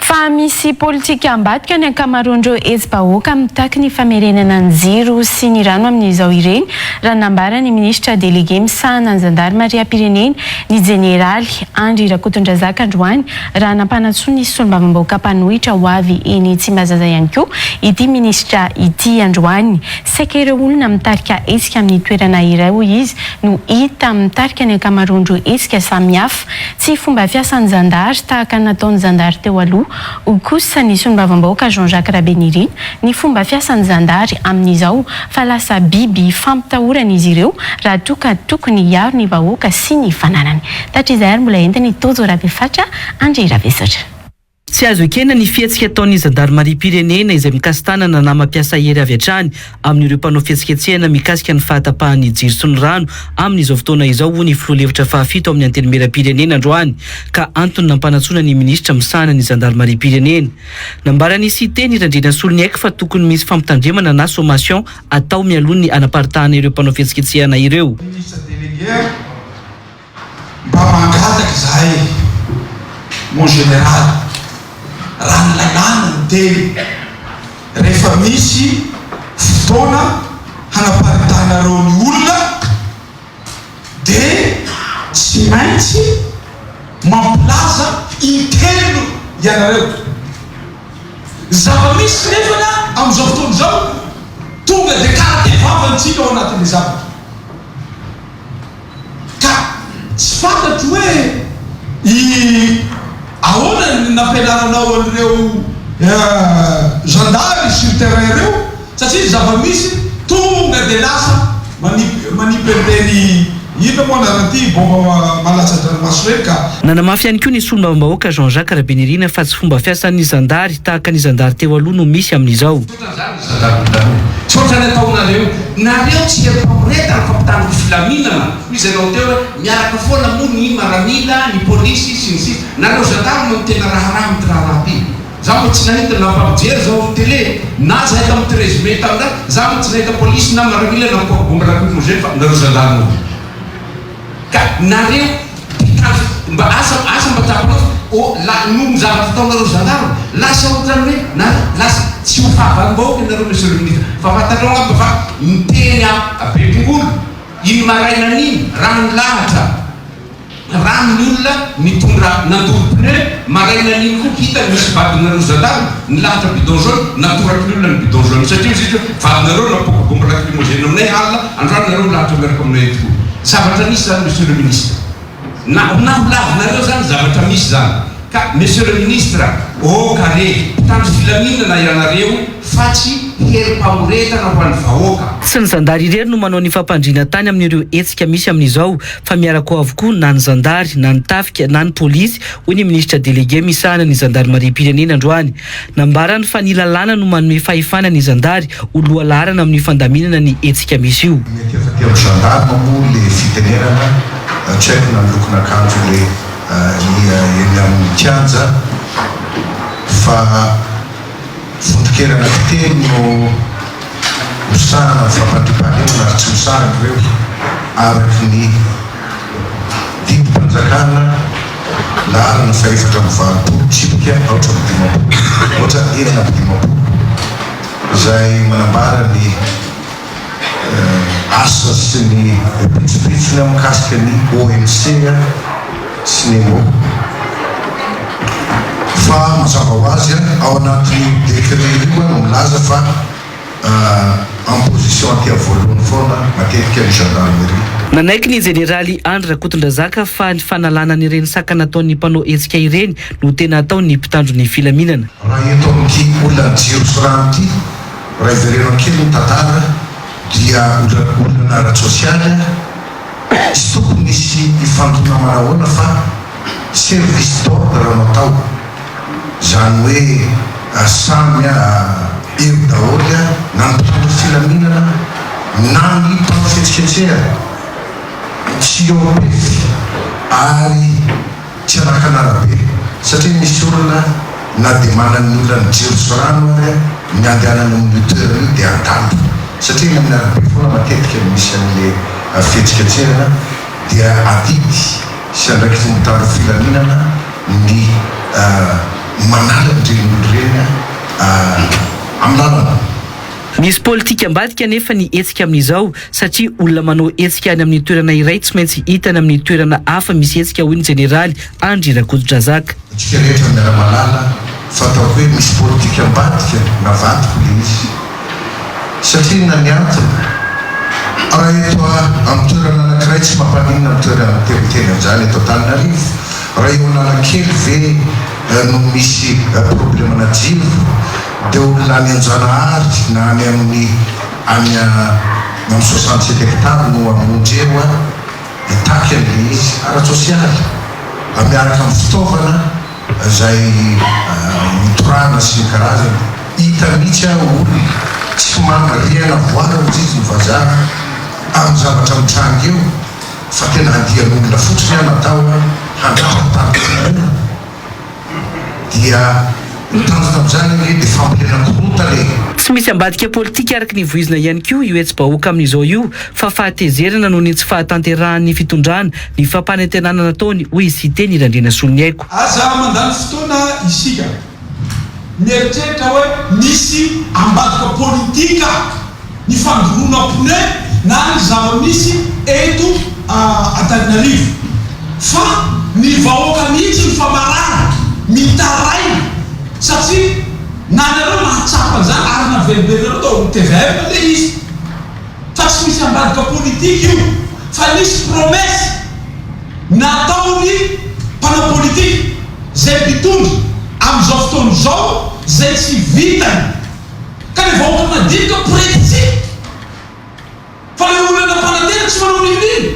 Fa misy politika ambadika ny ankamaroan'ireo hetsi-bahoaka mitaky ny famerenana ny jiro sy ny rano amin'izao ireny, raha nambaran'ny minisitra delege misahana ny zandarimariam-pirenena, ny jeneraly Andry Rakotondrazaka androany, raha nampanantsoa ny solombavambahoaka mpanohitra ho avy eny Tsimbazaza ihany koa ity minisitra ity androany. Saika ireo olona mitarika hetsika amin'ny toerana iray, hoy izy, no hita mitarika ny ankamaroan'ireo hetsika samihafa. Tsy fomba fiasan'ny zandary tahaka ny nataon'ny zandary teo aloha, hoy kosa ny solombavambahoaka Jean Jacques Rabenirina, ny fomba fiasan'ny zandary amin'izao fa lasa biby fampitahorana izy ireo raha toa ka tokony hiaro ny vahoaka sy ny fananany. Tatrizay ary mbola entin'i Tojo Rabefatra Andry Ravesatra. Tsy azo ekena ny fihetsika ataon'ny zandarimariam-pirenena izay mikasi-tanana na mampiasa hery avy hatrany amin'ireo mpanao fihetsiketsehana mikasika ny fahatapahan'ny jiro sy ny rano amin'izao fotoana izao, hoy ny filoha lefitra fahafito amin'ny Antenimieram-pirenena androany ka antony nampanantsoina ny minisitra misahana ny zandarimariam-pirenena. Nambaran'i Siteny Randrianasolo niaiky fa tokony misy fampitandremana na sommation atao mialoha ny hanaparitahana ireo mpanao fihetsiketsehana ireo. Mba mangataka izahay mon général raha ny lalàna no teny rehefa misy fotoana hanaparidahinareo ny olona dia tsy maintsy mampilaza intelo ianareo ny zava-misy nefana amin'izao fotoana izao tonga dia karate vava ny tsika ao anatin'ny zavatra ka tsy fantatro hoe i ahoana ny nampianaranao an'ireo zandary sur terrain ireo satria ny zava-misy tonga dia lasa maniperde ny inona moa anaran'ity baomba malatsa-dranomaso ireny ka. Nanamafy ihany koa ny solombavambahoaka Jean Jacques Rabenirina fa tsy fomba fiasan'ny zandary tahaka ny zandary teo aloha no misy amin'izao. Misaotra ny ataonareo. Nareo tsy heno famoretana fa mpitandro filaminana hoy izay nao teo hoe miaraka foana moa ny maramila, ny polisy sy ny sisa. Nareo gendarme no tena raharaha amin'ity raharaha ity. Za mbo tsy nahita na fa mijery zao ny tele na zahay tamity résumé tam za mbo tsy nahita polisy na maramila na corps bombe raha kofogny zay fa nareo gendarme hoy. Ka nareo mpitandro mba asa asa mba tapaho ô la noho ny zavatra ataonareo gendarme lasa otrany hoe nareo lasa tsy ho fahavalom bahoaka ianareo monsieur le ministre fa fantatrao angamba fa niteny a bepongolo iny marainana iny raha nilahatra rano ny olona nitondra nandoro pneu marainana iny koa hita nisy vadinareo gendarme nilahatra bidon jaune natoraky ny olona ny bidon jaune satria izy hoe vadinareo napoaka bombe lacrymogène aminay alina Androany nareo milahatra miaraka aminay etoa. Zavatra misy zany Monsieur le Ministre. Na na ho lavinareo zany zavatra misy zany. Ka Monsieur le Ministre, oh ka re, mpitandro filaminana ianareo fa tsy herim-pamoretana ho an'ny vahoaka. Tsy ny zandary irery no manao ny fampandriana tany amin'ireo hetsika misy amin'izao fa miaraka ao avokoa na ny zandary, na ny tafika, na ny polisy, hoy ny Minisitra Delege misahana ny zandarimariam-pirenena androany. Nambarany fa ny lalàna no manome fahefana ny zandary ho lohalaharana amin'ny fandaminana ny hetsika misy io. Mety efa dia mi-gendarme moa le fitenenana, tsy haiko na ny lokon'akanjo le eny amin'ny kianja fa vondron-kerana fiteny no misahana ny fampandriampahalemana ary tsy misahana ireo araka ny Didim-panjakana lany ny faefatra amby valopolo tsipika aotra amby dimampolo, aotra enina amby dimampolo, izay manambara ny asa sy ny pitsopitsony mikasika ny OMC sy ny Emmo. Fa mazava ho azy, ao anatin'io décret io no milaza fa. en position aty voalohany foana matetika ny gendarmerie. Nanaiky ny jeneraly Andry Rakotondrazaka fa ny fanalana an'ireny saka nataon'ny mpanao hetsika ireny no tena ataon'ny mpitandro ny filaminana. Raha eto amin'ity olan'ny jiro sy rano ity, raha iverenao kely ny tantara dia olana ara-tsosialy, Tsy tokony hisy hifantontramana ahoana fa service d'ordre no atao, izany hoe samy eo daholo na ny mpitondra filaminana na ny mpanao fihetsiketsehana, tsy eo am-pefy ary. Tsy anakana arabe satria misy olona na dia manana ny olan'ny jiro sy rano ary ny handehanana amin'io toerana io dia adala satria eny amin'ny arabe foana matetika no misy an'le fihetsiketsehana dia adidy sy andraikitry ny mpitandro filaminana ny manala an'ireny olona ireny amin'ny lalana. Misy politika ambadika anefa ny hetsika amin'izao satria olona manao hetsika any amin'ny toerana iray tsy maintsy hitany amin'ny toerana hafa misy hetsika, hoy ny Jeneraly Andry Rakotodrazaka. Antsika rehetra miara-mahalala fa ataoko hoe misy politika ambadika navadiko ilay izy, satria inona ny antony? Raha eto amin'ny toerana anankiray tsy mampaninona ny toerana miteniteny an'izany eto Antananarivo, raha eo Analakely ve no misy problemana jiro dia olona any Anjanahary na any amin'ny Any amin'ny soixante sept hectares no hamonjy eo an, mitaky an'ilay izy ara-tsosialy mba miaraka amin'ny fitaovana izay mitorahana sy ny karazany. Hita mihitsy an, olona tsy manan rihana voara hozizy ny vazaha amin'ny zavatra mitranga eo fa tena andian'olona fotsiny an atao an handratra ny tany kokoa. dia ny tanjona amin'izany ange dia fambolena korontana e! Tsy misy ambadika politika araky ny voizina ihany koa io hetsi-bahoaka amin'izao io fa fahatezerana noho ny tsy fahatanterahan'ny fitondrana ny fampanantenana nataony, hoy i Siteny Randrianasoloniaiko. Aza mandany fotoana isika mieritreritra hoe misy ambadika politika. ny fandoroana pneu na ny zava-misy eto Antananarivo fa ny vahoaka mihitsy no fa marary, mitaraina satria na nareo mahatsapa an'izany ary naveriberinareo tao amin'ny tvm ilay izy fa tsy misy ambadika politika io fa nisy promesse nataon'ny mpanao politika izay mpitondra amin'izao fotoana izao izay tsy vitany. ka le vahoaka madinika mporety tsiny fa le olona mpanantena tsy manao milina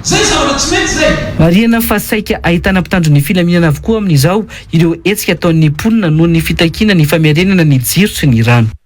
zay zavatra tsy mety zay. Marihina fa saika ahitana mpitandro ny filaminana avokoa amin'izao ireo hetsika ataon'ny mponina noho ny fitakiana ny famerenana ny jiro sy ny rano.